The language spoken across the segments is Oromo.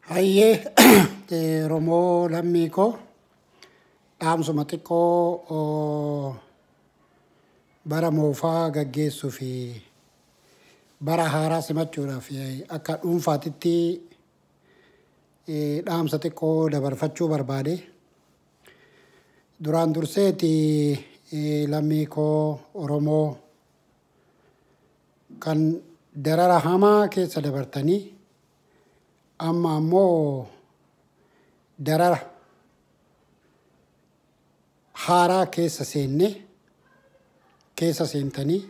Hayyee eh, Oromoo lammii koo dhaamsuma xiqqoo oh, bara moofaa gaggeessuu fi bara haaraa simachuudhaaf eh, akka dhuunfaatitti eh, dhaamsa xiqqoo dabarfachuu barbaade. Duraan durseeti eh, lammii koo Oromoo Kan darara hamaa keessa dabartanii amma ammoo darara haaraa keessa seenne keessa seentanii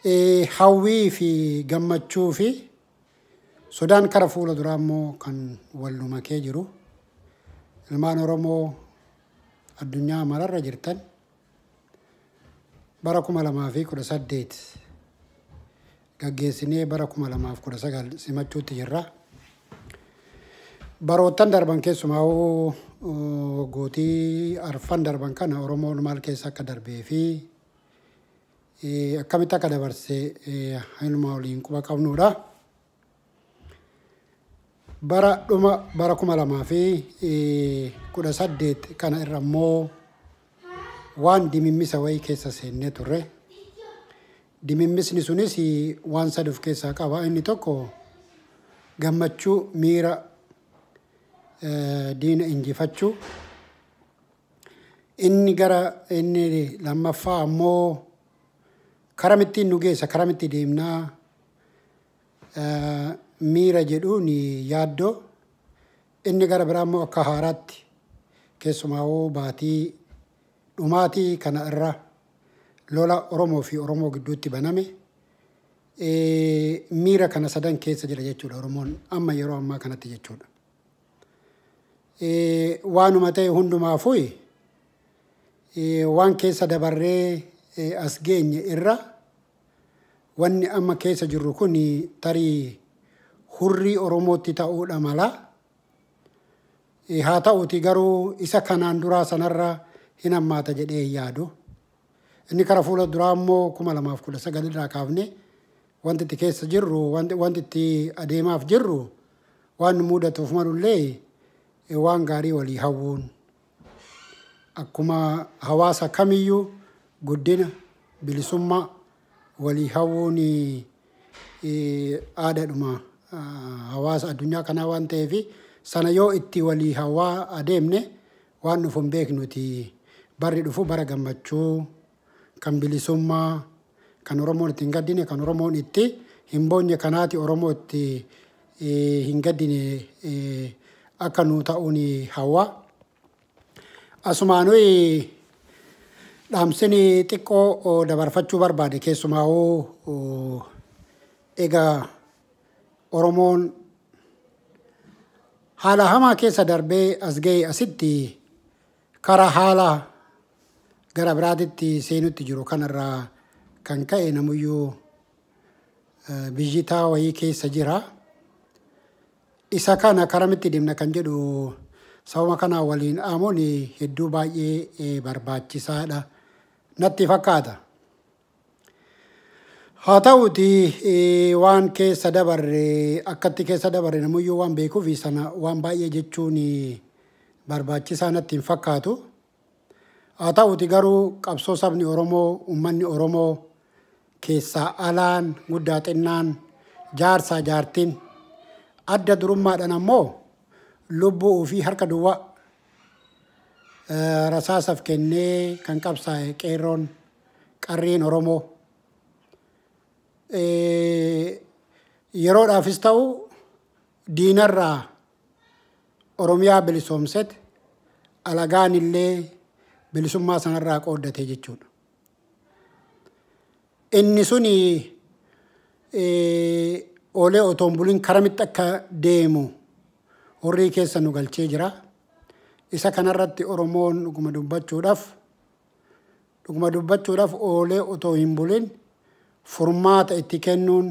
eh, hawwii fi gammachuu fi sodaan kara fuula duraa immoo kan wal nu makee jiru ilmaan Oromoo addunyaa mararra jirtan bara 2018 gaggeessinee bara 2019 simachuutti jirra. Baroottan darban keessumaa gootii arfan darban kana Oromoon maal keessa akka darbee fi akkamitti akka dabarse hainuma waliin quba qabnuudha. Bara dhuma bara 2018 kana irra immoo waan dimimmisa wayii keessa seennee turre. Dimimmisni sunis waan sadi of keessaa qaba. Inni tokko gammachuu miira eh, diina injifachuu. Inni gara inni lammaffaa ammoo karamittiin nu geessa, karamittii deemnaa miira jedhuun yaaddoo, inni gara biraa immoo akka haaraatti keessumaawuu baatii dhumaatii kana irra lola Oromoo fi Oromoo gidduutti baname miira kana sadan keessa jira jechuudha Oromoon amma yeroo ammaa kanatti jechuudha. Waanuma ta'e hundumaafuu waan keessa dabarree as geenye irra wanni amma keessa jirru kun tarii hurrii Oromootti ta'uudha mala. Eh, Haa ta'uuti garuu isa kanaan duraa sanarra hin hammaata jedhee hin yaadu. Inni kara fuula duraa immoo kuma lamaaf kudha sagal irraa kaafne wanti itti keessa jirru wanti wanti itti adeemaaf jirru waan nu mudatuuf malullee eh, waan gaarii walii hawwuun Akkuma hawaasa kamiyyuu guddina, bilisummaa walii hawwuun aadaadhuma hawaasa addunyaa kanaa waan ta'eef sana yoo itti walii hawwaa adeemne waan dhufu hin beeknuti. Barri dhufu bara gammachuu. kan bilisummaa, kan Oromoon itti hin gaddine, kan Oromoon itti hin boonye kanaati Oromoo itti eh, hin gaddine eh, akka nuu ta'uun hawwa. Asumaanuu dhaamsini xiqqoo oh, dabarfachuu barbaade keessumaa'uu oh, egaa Oromoon haala hamaa keessa darbee as ga'e asitti Karaa haala gara biraatitti seenutti jiru kanarraa kan ka'e namuyyuu biyyitaa wayii keessa jira. Isa kana karamitti deemna kan jedhu sababa kanaa waliin dhaamuun hedduu baay'ee barbaachisaadha natti fakkaata. Haa ta'uti waan keessa dabarre akkatti keessa dabarre namuyyuu waan beekuuf sana waan baay'ee jechuun barbaachisaa natti hin fakkaatu. Haa ta'uti garuu qabsoo sabni Oromoo, uummanni Oromoo keessaa alaan guddaa xinnaan jaarsaa jaartiin adda durummaadhaan ammoo lubbuu ofii harka duwwaa eh, rasaasaaf kennee kan qabsaa'e qeerroon qarreen Oromoo. Yeroodhaafis ta'u diinarraa Oromiyaa bilisoomset alagaan illee bilisummaa sanarraa qooddate jechuudha. Inni suni oolee otoon bulin karamitti akka deemu horrii keessa nu galchee jira. Isa kanarratti Oromoon dhuguma dubbachuudhaaf Dhuguma dubbachuudhaaf oolee otoo hin bulin furmaata itti kennuun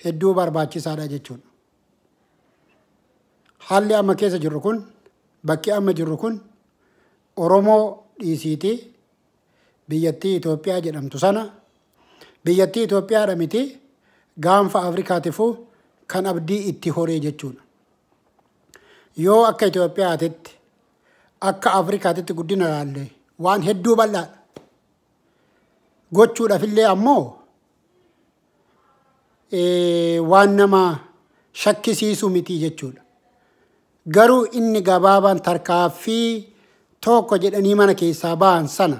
hedduu barbaachisaadha jechuudha. Haalli amma keessa jirru kun bakki amma jirru kun Oromoo dhiisiitii biyyattii Itoophiyaa jedhamtu sana biyyattii Itoophiyaadha miti gaanfa Afrikaatifuu kan abdii itti horee jechuudha. Yoo akka Itoophiyaatitti Akka Afrikaatitti guddina ilaalle waan hedduu bal'aadha. Gochuudhaaf illee ammoo eh, waan nama shakkisiisu miti jechuudha. Garuu inni gabaabaan tarkaaffii tokko jedhanii mana keessaa ba'an sana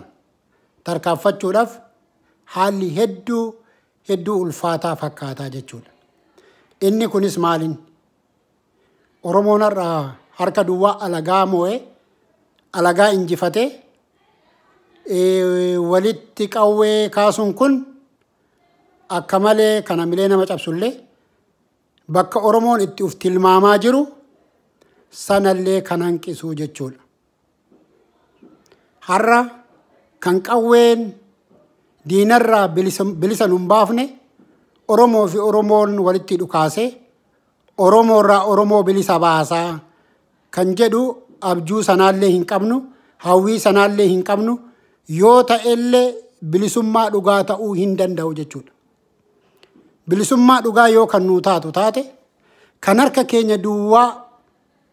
tarkaaffachuudhaaf haalli hedduu hedduu ulfaataa fakkaataa jechuudha. Inni kunis maaliin? Oromoon har'a harka duwwaa alagaa moo'ee, alagaa injifatee, eh, walitti qawwee kaasuun kun akka malee kan hamilee nama cabsullee bakka Oromoon itti uf tilmaamaa jiru sanallee kan hanqisuu jechuudha. har'a kan qawween diinarraa bilisa nun baafne Oromoo fi Oromoon walitti dhukaase Oromoorraa Oromoo bilisa baasaa kan jedhu abjuu sanaallee hin qabnu hawwii sanaallee hin qabnu yoo ta'ellee bilisummaa dhugaa ta'uu hin danda'u jechuudha. Bilisummaa dhugaa yoo kan nuu taatu taate kan harka keenya duwwaa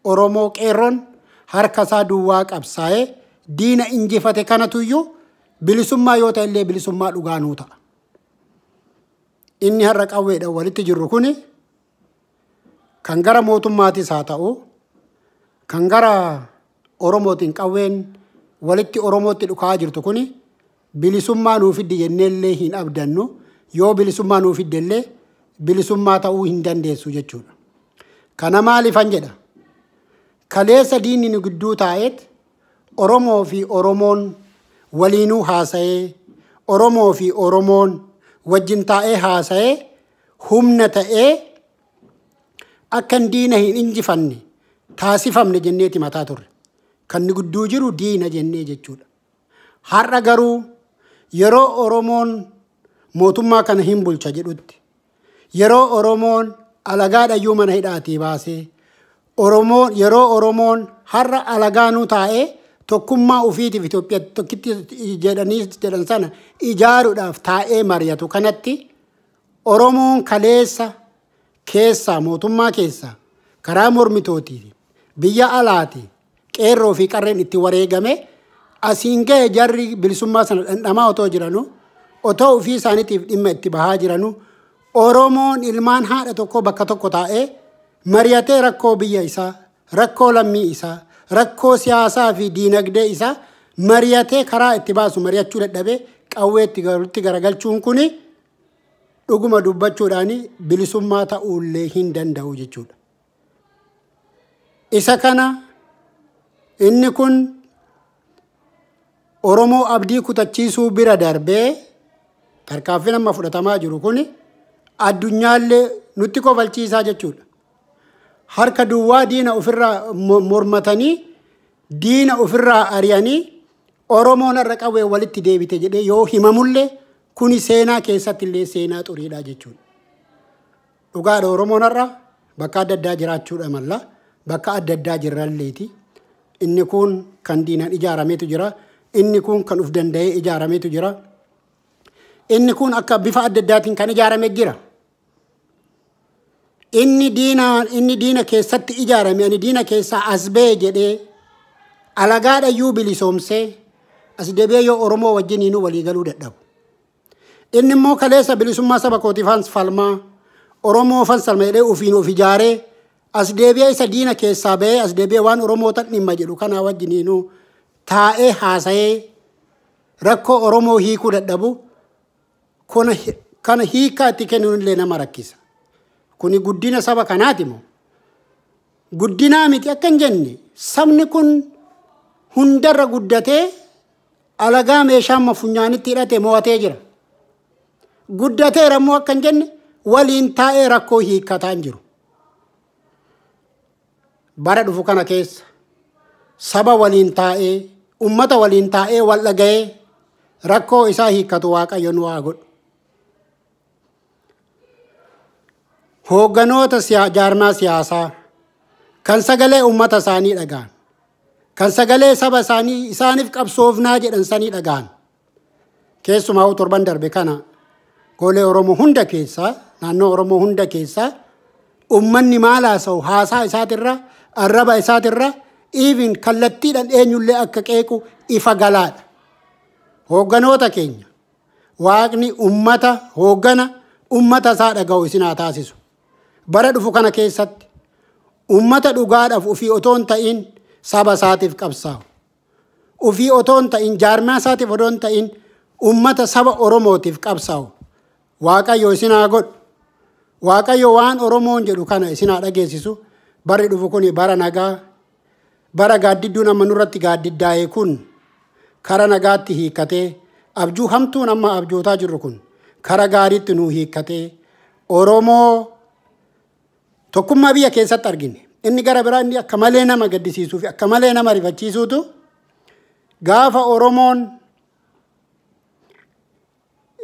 Oromoo Qeerroon harka isaa duwwaa qabsaa'ee diina injifate kanatu iyyuu bilisummaa yoo ta'e illee bilisummaa dhugaa nuu ta'a. Inni har'a qawweedhaan walitti jirru kuni kan gara mootummaatis haa ta'u kan gara Oromootiin qawween walitti Oromootti dhukaa jirtu kuni Bilisummaa nuu fiddi jennee illee hin abdannu, yoo bilisummaa nuu fidde illee bilisummaa ta'uu hin dandeessu jechuudha. Kana maalifan jedha? Kaleessa diinni nu gidduu taa'eet Oromoo fi Oromoon waliinuu haasa'ee, Oromoo fi Oromoon wajjin taa'ee haasa'ee humna ta'ee akkan diina hin injifanne taasifamne jenneeti mataa turre. Kan nu gidduu jiru diina jennee jechuudha. Har'a garuu yeroo Oromoon mootummaa kana hin bulcha jedhutti, yeroo Oromoon alagaadhayyuu mana hidhaatii baasee, Oromoon yeroo Oromoon har'a alagaanuu taa'ee tokkummaa ofiitiif Itoophiyaa tokkitti jedhanii jedhan sana ijaaruudhaaf taa'ee mari'atu kanatti Oromoon kaleessa keessaa mootummaa keessaa karaa mormitootii biyya alaati Qeerroo fi qarreen itti wareegamee asiin gahe jarri bilisummaa sana dhandhamaa otoo jiranuu otoo ofii isaaniitiif dhimma itti bahaa jiranuu Oromoon ilmaan haadha tokkoo bakka tokko taa'ee mari'atee rakkoo biyya isaa, rakkoo lammii isaa, rakkoo siyaasaa fi diinagdee isaa mari'atee karaa itti baasu mari'achuu dadhabee qawweetti galutti garagalchuun kun dhuguma dubbachuudhaan bilisummaa ta'uullee hin danda'u jechuudha. Isa kana inni kun Oromoo abdii kutachiisuu bira darbee tarkaanfiin amma fudhatamaa jiru kun addunyaallee nutti kofalchiisaa jechuudha. Harka duwwaa diina ofirraa mo- mormatanii diina ofirraa ari'anii Oromoon har'a qawwee walitti deebite jedhee yoo himamullee kuni seenaa keessatti illee seenaa xuriidhaa jechuudha. Dhugaadha Oromoon har'a bakka adda addaa jiraachuudha malla bakka adda addaa jirralleeti. Inni kuun kan diinaan ijaarameetu jira. Inni kuun kan uf danda'ee ijaarameetu jira. Inni kuun akka bifa adda addaatiin kan ijaarame jira. Inni diina inni diina keessatti ijaarame ani diina keessaa as ba'e jedhee alagaadhayyuu bilisoomsee as debi'ee yoo Oromoo wajjiniinuu walii galuu dadhabu. Inni immoo kaleessa bilisummaa saba kootiifan falmaa, Oromoofan salma jedhee ofiin of ijaaree as deebi'ee isa diina keessaa ba'ee as deebi'ee waan Oromootan dhimma jedhu kanaa wajjiniinuu taa'ee haasa'ee rakkoo Oromoo hiikuu dadhabu kuna kana hiikaa itti kennuun illee nama rakkisa. Kuni guddina saba kanaati moo? Guddinaa miti akka hin jenne sabni kun hundarra guddatee alagaa meeshaa amma funyaanitti hidhate mo'atee jira. Guddateera immoo akka hin jenne waliin taa'ee rakkoo hiikkataa hin jiru. Bara dhufu kana keessa saba waliin taa'ee ummata waliin taa'ee wal dhaga'ee rakkoo isaa hiikkatu waaqayyo nu haa godhu. Hoogganoota siya- jaarmaa siyaasaa kan sagalee uummata isaanii dhaga'an, kan sagalee saba isaanii isaaniif qabsoofnaa jedhan sanii dhaga'an. Keessumaa hoo torban darbe kana golee Oromoo hunda keessaa, naannoo Oromoo hunda keessaa uummanni maal haasa'u haasaa isaatirra, arraba isaatirra, even kallattiidhaan eenyullee akka qeequ ifa galaadha. Hoogganoota keenya Waaqni ummata, hooggana ummata isaa dhaga'u isin haa taasisu. Bara dhufu kana keessatti ummata dhugaadhaaf ofii otoo hin ta'in saba isaatiif qabsaa'u. Ofii otoo hin ta'in jaarmaa isaatiif otoo hin ta'in ummata saba Oromootiif qabsaa'u. Waaqayyo isin haa godhu. Waaqayyo waan Oromoon jedhu kana isin haa dhageessisu. Barri dhufu kun bara nagaa, Bara gaaddidduun amma nurratti gaaddiddaa'e kun kara nagaatti hiikkatee, abjuu hamtuun amma abjootaa jirru kun kara gaariitti nuu hiikkatee, Oromoo tokkummaa biyya keessatti argine. Inni gara biraa inni akka malee nama gaddisiisuu fi akka malee nama rifachiisuutu gaafa Oromoon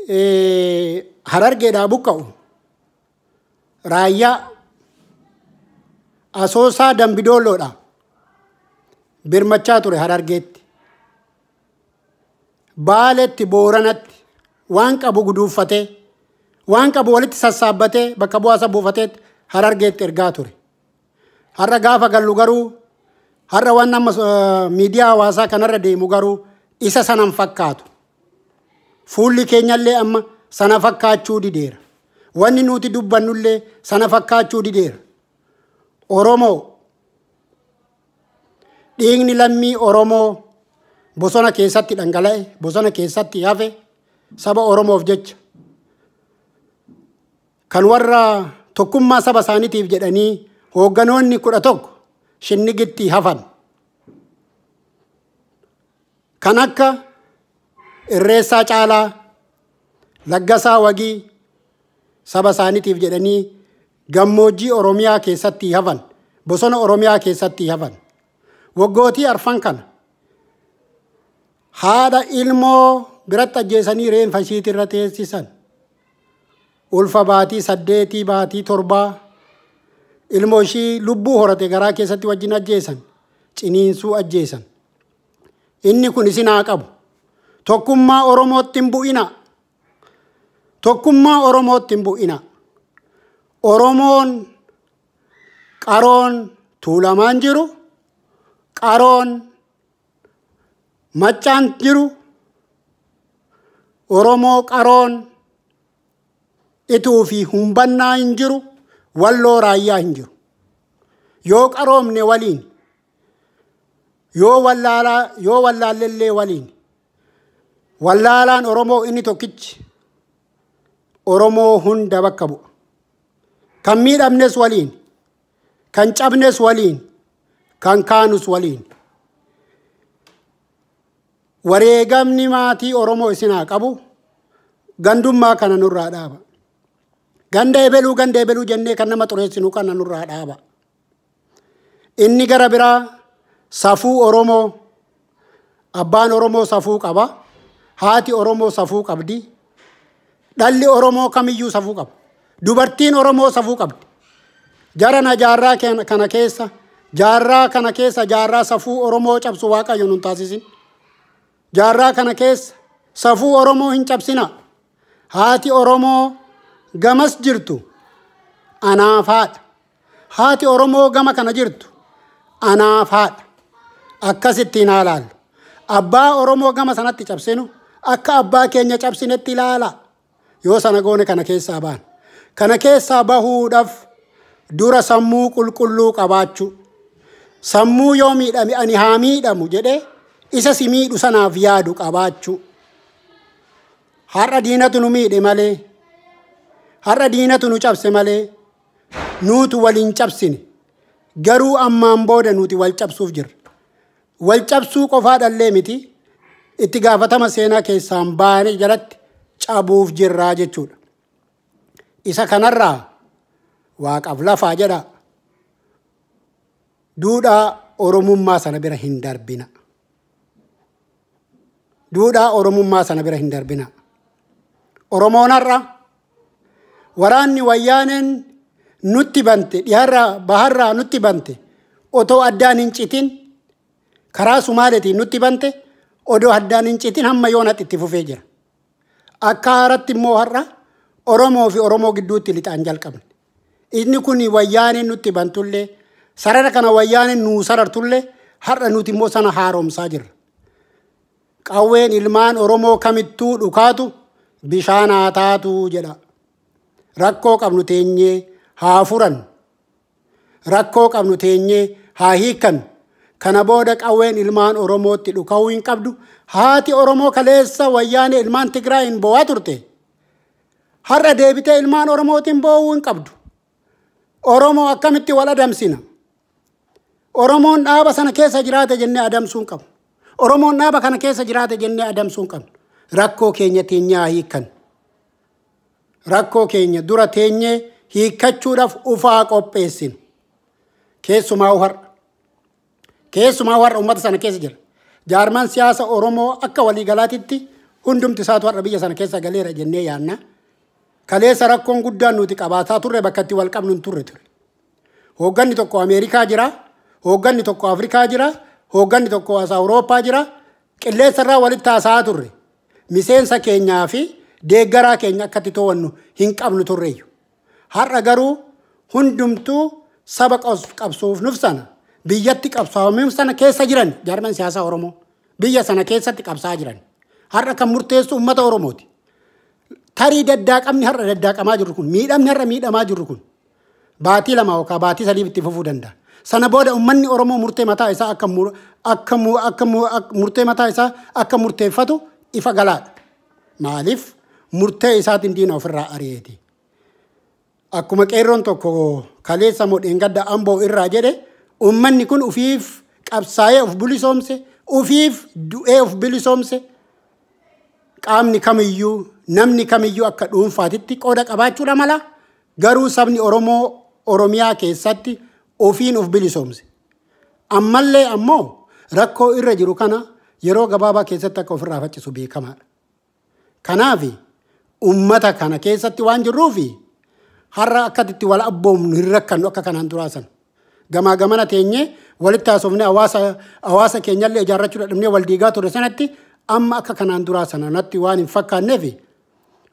eh, harargeedhaa buqqa'u Raayyaa, Asoosaa Dambidoolloodha. Birmachaa ture Harargeetti. Baaletti, Booranatti waan qabu guduuffatee, waan qabu walitti sassaabbatee bakka bu'aasa buufateetti Harargeetti ergaa ture. Har'a gaafa gallu garuu har'a waan amma miidiyaa hawaasaa kanarra deemu garuu isa sana hin fakkaatu. Fuulli keenyallee amma sana fakkaachuu dideera. Wanni nuti dubbannullee sana fakkaachuu dideera. Oromoo dhiigni lammii Oromoo bosona keessatti dhangala'e, bosona keessatti hafe saba Oromoof jecha Kan warra tokkummaa saba isaanitiif jedhanii hoogganoonni kudha tokko shinnigitti hafan. Kan akka Irreessaa Caalaa, Laggasaa Wagii saba isaanitiif jedhanii gammoojjii Oromiyaa keessatti hafan, bosona Oromiyaa keessatti hafan. Waggootii arfan kana haadha ilmoo biratti ajjeesanii reenfa ishiitirra teessisan. ulfa baatii saddeetii baatii torbaa ilmoo ishii lubbuu horate garaa keessatti wajjin ajjeesan ciniinsuu ajjeesan inni kun isin haa qabu tokkummaa oromootti hin bu'ina tokkummaa oromootti hin bu'ina oromoon qaroon tuulamaan jiru qaroon Maccaan jiru Oromoo qaroon ituu fi humbannaa hin jiru walloo raayyaa hin jiru. Yoo qaroomne waliin yoo wallaalaa yoo wallaallellee waliin wallaalaan Oromoo inni tokkichi Oromoo hunda bakka bu'a. Kan miidhamnes waliin Kan cabnes waliin, kan kaanus waliin. Wareegamni maatii Oromoo isin haa qabu. Gandummaa kana nurraa dhaaba. Ganda ebeluu ganda ebeluu jennee kan nama xureessinu kana nurraa dhaaba. Inni gara biraa safuu Oromoo Abbaan Oromoo safuu qaba. Haati Oromoo safuu qabdi. Dhalli Oromoo kamiyyuu safuu qaba. Dubartiin Oromoo safuu qabdi. Jara na jaarraa ken- kana keessa jaarraa kana keessa jaarraa safuu Oromoo cabsu waaqayyo nun taasisin. Jaarraa kana keessa safuu Oromoo hin cabsina. Haati Oromoo gamas jirtu anaaf haadha. Haati Oromoo gama kana jirtu anaaf haadha. Akkas ittiin haa laallu. Abbaa Oromoo gama sanatti cabsinu akka abbaa keenya cabsinetti ilaala. Yoo sana goone kana keessaa baana. Kana keessaa bahuudhaaf dura sammuu qulqulluu qabaachuu. Sammuu yoo miidhame ani haa miidhamu jedhee isa si miidhu sanaaf yaadu qabaachuu. Har'a diinatu nu miidhe malee. Har'a diinatu nu cabse malee. nuutu wal hin cabsine. Garuu ammaan booda nuti wal cabsuuf jirra. Wal cabsuu qofaadhallee miti itti gaafatama seenaa keessaan baane jalatti cabuuf jirraa jechuudha. Isa kanarraa waaqaaf lafaa jedhaa duudhaa Oromummaa sana bira hin darbina. duudhaa Oromummaa sana bira hin darbina. Oromoon har'a waraanni wayyaaneen nutti bante dhiharraa baharraa nutti bante otoo addaan hin citin karaa Sumaaleetiin nutti bante odoo addaan hin citin hamma yoonatti itti fufee jira. Akka haaratti immoo har'a Oromoo fi Oromoo gidduutti lixaan jalqabne. Inni kun wayyaaneen nutti bantullee sarara kana wayyaaneen nuu sarartullee har'a nuti immoo sana haaromsaa jirra. Qawween ilmaan Oromoo kamittuu dhukaatu bishaan haa taatu jedha. Rakkoo qabnu teenyee haa furan. Rakkoo qabnu teenyee haa hiikkan. Kana booda qawween ilmaan Oromootti dhuka'uu hin qabdu. Haati Oromoo kaleessa wayyaanee ilmaan Tigraayin boo'aa turte. Har'a deebitee ilmaan Oromootiin boo'uu hin qabdu. Oromoo akkamitti wal adamsina? Oromoon dhaaba sana keessa jiraate jennee adamsuu hin qabnu. Oromoon dhaaba kana keessa jiraate jennee adamsuu hin qabnu. Rakkoo keenya teenyaa hiikan. Rakkoo keenya dura teenyee hiikkachuudhaaf ufaa qopheessinu. Keessumaa har'a. Keessumaa warra uummata sana keessa jira. Jaarmaan siyaasa Oromoo akka waliigalaatitti hundumti isaatu har'a biyya sana keessa galeera jennee yaanna. Kaleessa rakkoon guddaan nuti qabaataa turre bakka itti wal qabnu hin turre ture. Hoogganni tokko Ameerikaa jira, hoogganni tokko Afrikaa jira, hoogganni tokko as Awurooppaa jira. Qilleensa irraa walitti haasa'aa turre. Miseensa keenyaa fi deeggaraa keenya akkatti to'annu hin qabnu turreeyyu. Har'a garuu hundumtuu saba qabsoof nuf sana biyyatti qabsaa'umiif sana keessa jiran jaarman siyaasaa Oromoo biyya sana keessatti qabsaa jiran. Har'a kan murteessu uummata Oromooti. Tarii daddaaqamni har'a daddaaqamaa jirru kun miidhamni har'a miidhamaa jirru kun baatii lama yookaan baatii sadiif itti fufuu danda'a. Sana booda uummanni Oromoo murtee mataa isaa akka murtee mataa isaa akka murteeffatu ifa galaadha. Maaliif? Murtee isaatiin diina ofirraa ari'eeti. Akkuma qeerroon tokko kaleessa moo dheengadda amboo irraa jedhe uummanni kun ufiif qabsaa'ee of bilisoomse, ufiif du'ee of bilisoomse qaamni kamiyyuu namni kamiyyuu akka dhuunfaatitti qooda qabaachuudha mala garuu sabni Oromoo Oromiyaa keessatti ofiin of bilisoomse. Ammallee ammoo rakkoo irra jiru kana yeroo gabaabaa keessatti akka ofirraa faccisu beekamaadha. Kanaaf ummata kana keessatti waan jirruuf har'a akkatti itti wal abboomnu hin rakkannu akka kanaan duraa sana. Gamaa gamana teenyee walitti haasofnee hawaasa hawaasa keenyallee ijaarrachuu dadhabnee wal diigaa ture sanatti amma akka kanaan duraa sana natti waan hin fakkaanneef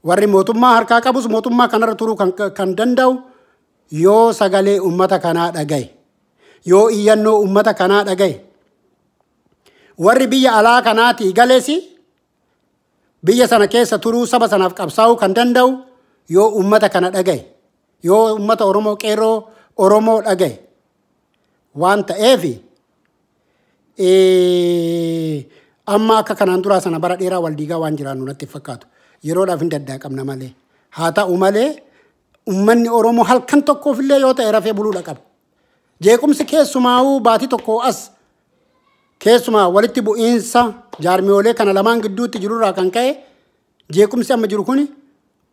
warri mootummaa harkaa qabus mootummaa kanarra turuu kan, kan danda'u Yoo sagalee ummata kanaa dhagahe, yoo iyyannoo ummata kanaa dhagahe, warri biyya alaa kanaatii gales biyya sana keessa turuu saba sanaaf qabsaa'uu kan danda'u yoo ummata kana dhagahe, yoo ummata Oromoo qeerroo Oromoo dhagahe waan ta'eef eh, amma akka kanaan duraa sana bara dheeraa wal diigaa waan jiraannu natti hin fakkaatu. Yeroodhaaf hin daddaaqamna malee. Haa ta'u malee Ummanni Oromoo halkan tokkoof illee yoo ta'e rafee buluu dhaqaba. Jeequmsi keessumaa'uu baatii tokkoo as keessumaa walitti bu'iinsa jaarmiyoolee kana lamaan gidduutti jirurraa kan ka'e jeequmsi amma jiru kuni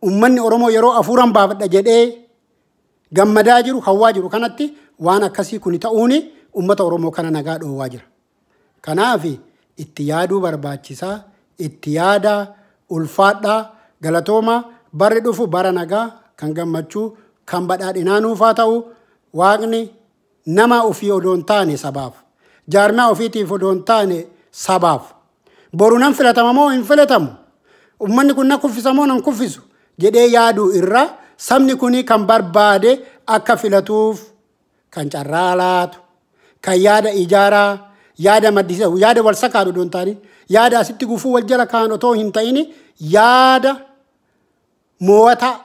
ummanni Oromoo yeroo afuuran baafadha jedhee gammadaa jiru hawwaa jiru kanatti waan akkasii kuni ta'uuni ummata Oromoo kana nagaa dhoowwaa jira. Kanaaf itti yaaduu barbaachisa. Itti yaadaa, ulfaadhaa, galatoomaa, barri dhufu bara nagaa, kan gammachuu, kan badhaadhinaa nuuf haa ta'u. Waaqni nama ofii odoo hin taane sabaaf, jaarmiyaa ofiitiif odoo hin taane sabaaf, boru nan filatama moo hin filatamu, ummanni kun na kuffisa moo nan kuffisu jedhee yaaduu irra sabni kun kan barbaade akka filatuuf kan carraa laatu, kan yaada ijaaraa, yaada maddisiisu, yaada wal sakaadhu don taani, yaada asitti gufuu wal jala kaan otoo hin ta'ini, yaada moo'ataa,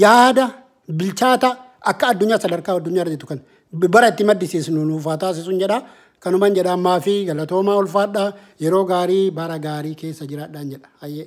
yaada bilchaataa akka addunyaa sadarkaa addunyaa irra jirtu kan bara itti maddisiisnu nuuf haa taasisuun jedha. Kanuman jedha ammaa fi galatoomaa ulfaadha. Yeroo gaarii bara gaarii keessa jiraadhaan jedha. Hayyee.